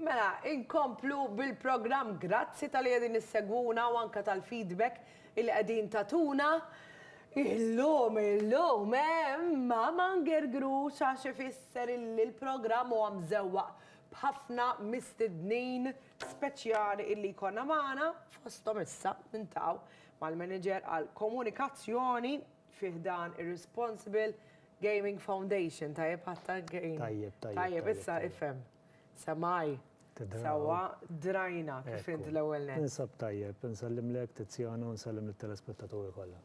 Mela, inkomplu bil-programm. Grazzi talli qegħdin issegwuna u anke tal-feedback illi qegħdin tagħtuna. Illum, illum hemm Mama Ngergrux għax ifisser illi l-programm huwa mżewwaq b'ħafna mistednin speċjali illi jkollna magħna, fosthom issa nintaw mal-Manager għall-Komunikazzjoni, fi ħdan ir-Responsible Gaming Foundation, tajjeb ħatta Tajjeb, tajjeb. Tajjeb, issa ifhem. Samaj. Sawa, drajna kif int l-ewwel net. Insab tajjeb, insellem lek Tiziano, insellem lit-telespettaturi kollha.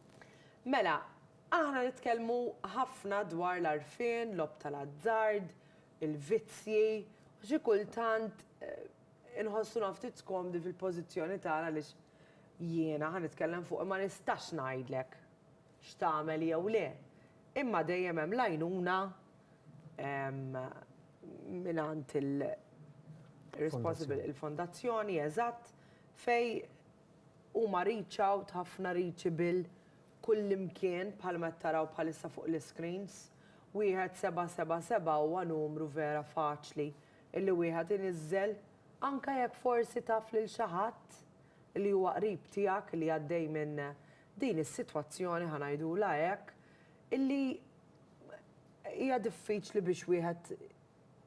Mela, aħna nitkellmu ħafna dwar l-għarfien, logħob tal-azzard, il-vizzji, u xi kultant inħossuna ftit skomdi fil-pożizzjoni tagħna għaliex Jiena ħa nitkellem fuqi ma nistax ngħidlek x'tagħmel jew le, imma dejjem hemm l-għajnuna mingħand il-responsible, il-fondazzjoni, eżatt, fejn huma reach out, ħafna reachable kullimkien bħalma qed taraw bħalissa fuq l-iscreens. Wieħed seba' seba' seba' huwa numru vera faċli illi wieħed iniżżel Anke jekk forsi taf lil xi ħadd li huwa qrib tiegħek li għaddej minn din is-sitwazzjoni, ħa ngħidulha hekk, illi hija diffiċli biex wieħed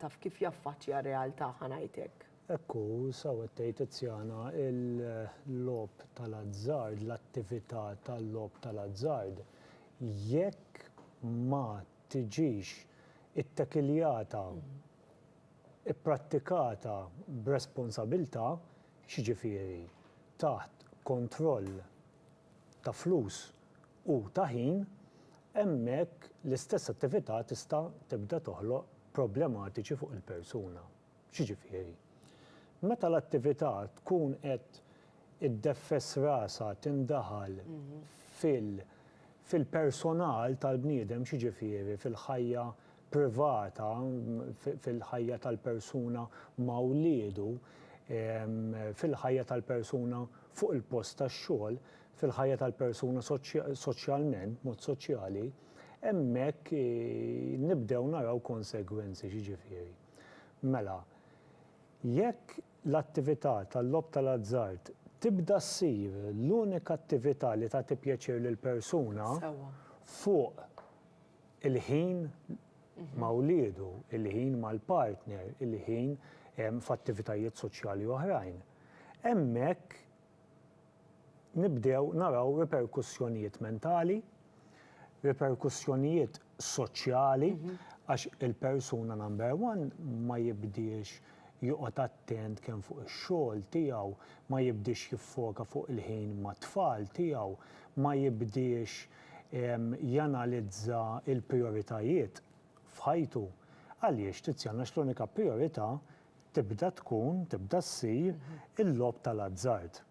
taf kif jaffaċċja r-realtà, ħa ngħid hekk. Hekk hu, sew qed tgħid Tiziana, il-logħob tal-azzard, l-attività tal-logħob tal-azzard, jekk ma tiġix ittekiljata, ipprattikata b'responsabilità, x'jiġifieri taħt kontroll ta' flus u ta' ħin, hemmhekk l-istess attività tista' tibda toħloq problematiċi fuq il-persuna. X'jiġifieri? Meta l-attività tkun qed iddeffes rasha tindaħal fil-personal tal-bniedem, x'jiġifieri fil-ħajja privata fil-ħajja tal-persuna ma' wliedu, fil-ħajja tal-persuna fuq il-post tax-xogħol, fil-ħajja tal-persuna soċjalment, b'mod soċjali, hemmhekk nibdew naraw konsegwenzi. X'jiġifieri? Mela, jekk l-attività tal-logħob tal-azzard tibda ssir l-unika attività li tagħti pjaċir lill-persuna fuq il-ħin ma' wliedu, il-ħin mal-partner, il-ħin f'attivitajiet soċjali oħrajn. Hemmhekk nibdew naraw riperkussjonijiet mentali, riperkussjonijiet soċjali, għax il-persuna number one ma jibdiex joqgħod attent kemm fuq ix-xogħol tiegħu, ma jibdiex jiffoka fuq il-ħin mat-tfal tiegħu, ma jibdiex, janalizza l-prijoritajiet f'ħajtu. Għaliex Tiziana x'l-unika prijorità tibda tkun, tibda ssir il-logħob tal-azzard.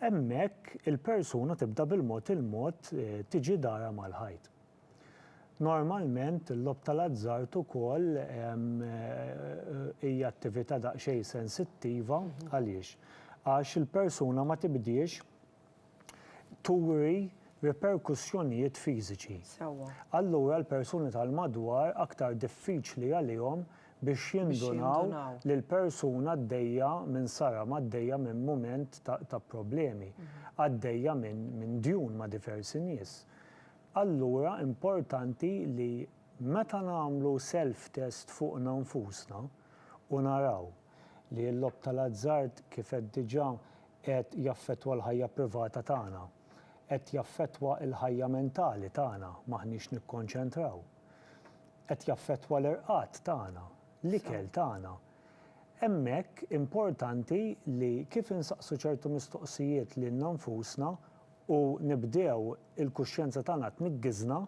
Hemmhekk il-persuna tibda bil-mod il-mod tiġi darha mal-ħajt. Normalment il-logħob tal-azzard ukoll hija attività daqsxejn sensittiva, għaliex? Għax il-persuna ma tibdiex turi riperkussjonijiet fiżiċi. Allura l-persuni tal-madwar aktar diffiċli għalihom biex jindunaw li l-persuna għaddejja minn saram, għaddejja minn mument ta' problemi, għaddejja minn djun ma' diversi nies. Allura importanti li meta nagħmlu self-test fuqna nfusna u naraw. li l-logħob tal-azzard, kif għedt diġà, qiegħed jaffettwa l-ħajja privata tagħna. Qed jaffettwa l-ħajja mentali tagħna, m'aħniex nikkonċentraw. Qed jaffettwa l-irqad tagħna, l-ikel tagħna. Hemmhekk importanti li kif insaqsu ċertu mistoqsijiet lilna nfusna u nibdew il-kuxjenza tagħna tniggiżna,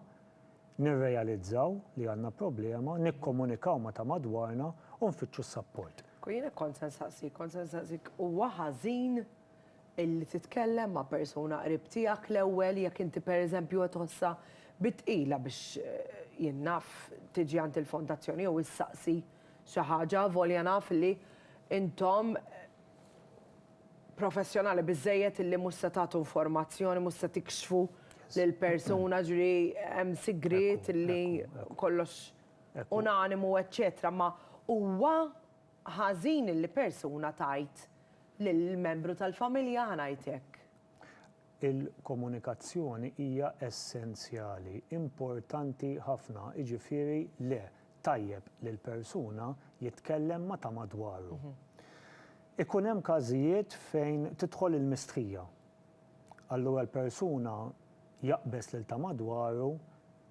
nirrealizzaw li għandna problema, nikkomunikaw ma' ta' madwarna u nfittxu s-sapport. Kieku jien hekk kont se nsaqsik, kont se nsaqsik huwa ħażin illi titkellem ma' persuna qrib tiegħek l-ewwel jekk inti pereżempju qed tħossha bi tqila biex jien naf tiġi għand il-fondazzjoni jew issaqsi xi ħaġa avolja naf li intom professjonali biżżejjed illi mhux se tagħtu informazzjoni, mhux se tikxfu lill-persuna, jiġifieri hemm sigriet illi kollox unanimu eċċetera, imma huwa ħażin illi persuna tgħid lil membru tal-familja, ħa ngħid hekk. Il-komunikazzjoni hija essenzjali, importanti ħafna, jiġifieri le, tajjeb li l-persuna jitkellem ma' ta' madwaru. Ikun hemm każijiet fejn tidħol il-mistħija. Allura l-persuna jaqbeż lil ta' madwaru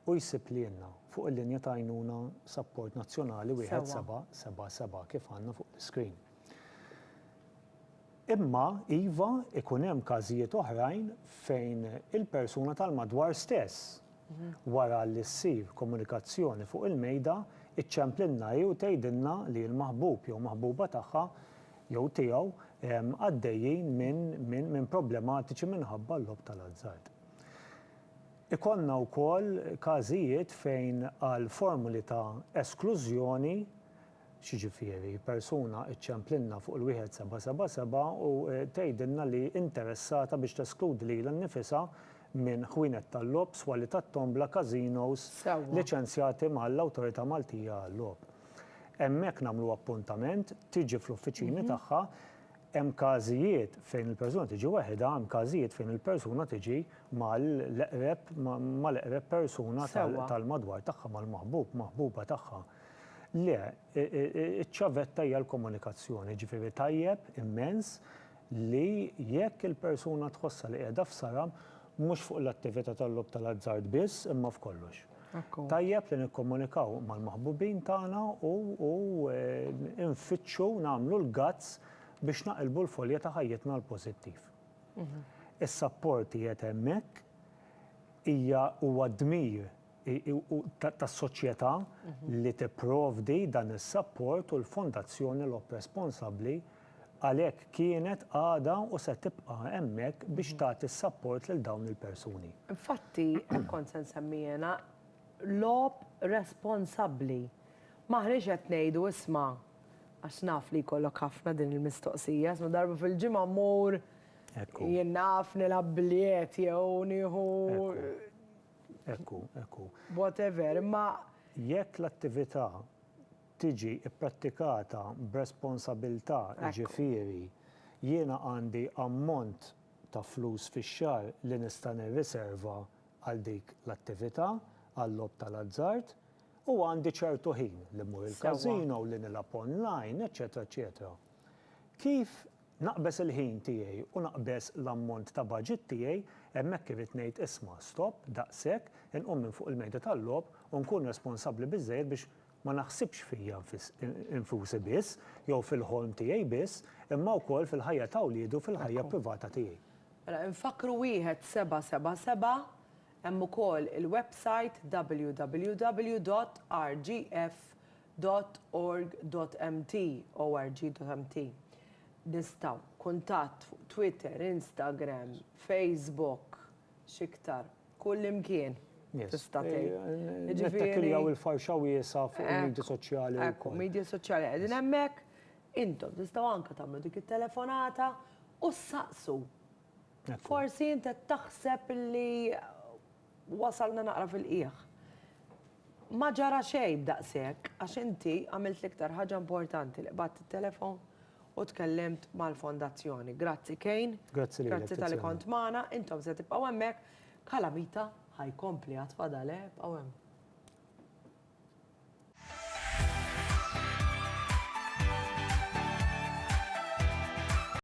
u jsib lilna fuq il-linja ta' għajnuna Sapport Nazzjonali 1777 kif għandna fuq l-iscreen. Imma, iva, ikun hemm każijiet oħrajn fejn il-persuna tal-madwar stess, wara li ssir komunikazzjoni fuq il-mejda, iċċemplilna hi u tgħidilna li l-maħbub jew maħbuba tagħha jew tiegħu għaddejjin minn problematiċi minħabba l-logħob tal-azzard. Ikollna wkoll każijiet fejn għal formuli ta' esklużjoni X'jiġifieri persuna ċċemplilna fuq il-wieħed seba' seba' seba' u tgħidilna li interessata biex teskludi lilha nnifisha minn ħwienet tal-logħob, swali tat-tombla, każinos liċenzjati mal-Awtorità Maltija għal-Logħob. Hemmhekk nagħmlu appuntament, tiġi fl-uffiċini tagħha, hemm każijiet fejn il-persuna tiġi weħidha, hemm każijiet fejn il-persuna tiġi mal-eqreb mal-eqreb persuna tal-madwar tagħha, mal-maħbub, maħbuba tagħha. Le, iċ-ċavetta hija l-komunikazzjoni, jiġifieri tajjeb immens li jekk il-persuna tħossha li qiegħda f'saram, mhux fuq l-attività tal-logħob tal-azzard biss imma f'kollox. Tajjeb li nikkomunikaw mal-maħbubin tagħna u nfittxu nagħmlu l-guts biex naqilbu l-folja ta' ħajjitna għall-pożittiv. Is-sapport qiegħed hemmhekk, hija huwa dmir u tas-soċjetà li tipprovdi dan is-sapport u l-Fondazzjoni Lob responsabbli għalhekk kienet, għadha u se tibqa' hemmhekk biex tagħti s-sapport lil dawn il-persuni. Infatti, hekk kont se nsemmi jiena, lob responsabbli. M'aħniex qed ngħidu isma', għax naf li jkollok ħafna din il-mistoqsija, isma' darba fil-ġimgħa mmur jien naf nilgħab biljet jew nieħu Hekk hu, hekk hu. Whatever, imma. Jekk l-attività tiġi pprattikata b'responsabilità, jiġifieri jiena għandi ammont ta' flus fix-xahar li nista' nirriserva għal dik l-attività, għal-logħob tal-azzard, u għandi ċertu ħin li mmur il-każino, li nilgħab online, eċċetera, eċċetera. Kif. Naqbeż il-ħin tiegħi u naqbeż l-ammont ta' baġit tiegħi, hemmhekk irrid ngħid isma', stop, daqshekk, inqum minn fuq il-mejda tal-logħob u nkun responsabbli biżżejjed biex ma naħsibx fija nfusi biss jew fil-ħolm tiegħi biss, imma wkoll fil-ħajja ta' wliedi u fil-ħajja privata tiegħi. Mela infakkru wieħed seba' seba' seba', hemm ukoll il-websajt www.rgf. dot org dot mt, org.mt, nistgħu, kuntatt fuq Twitter, Instagram, Facebook, x'iktar, kullimkien tista' tgħid. Nittakkillaw il-farxa wiesgħa fuq il-midja soċjali wkoll. Ekku, midja soċjali qegħdin hemmhekk, intom tistgħu anke tagħmlu dik it-telefonata u ssaqsu. Forsi int qed taħseb li Wasalna naqra fil-qiegħ. Ma ġara xejn daqshekk għax inti għamilt l-iktar ħaġa importanti li qbadt it-telefon u tkellimt mal-Fondazzjoni. Grazzi Kane. Grazzi lilek, Tiziana. Grazzi talli kont magħna. Intom se tibqgħu hemmhekk. Calamita ħa jkompli għad fadal, eh, ibqgħu hemm.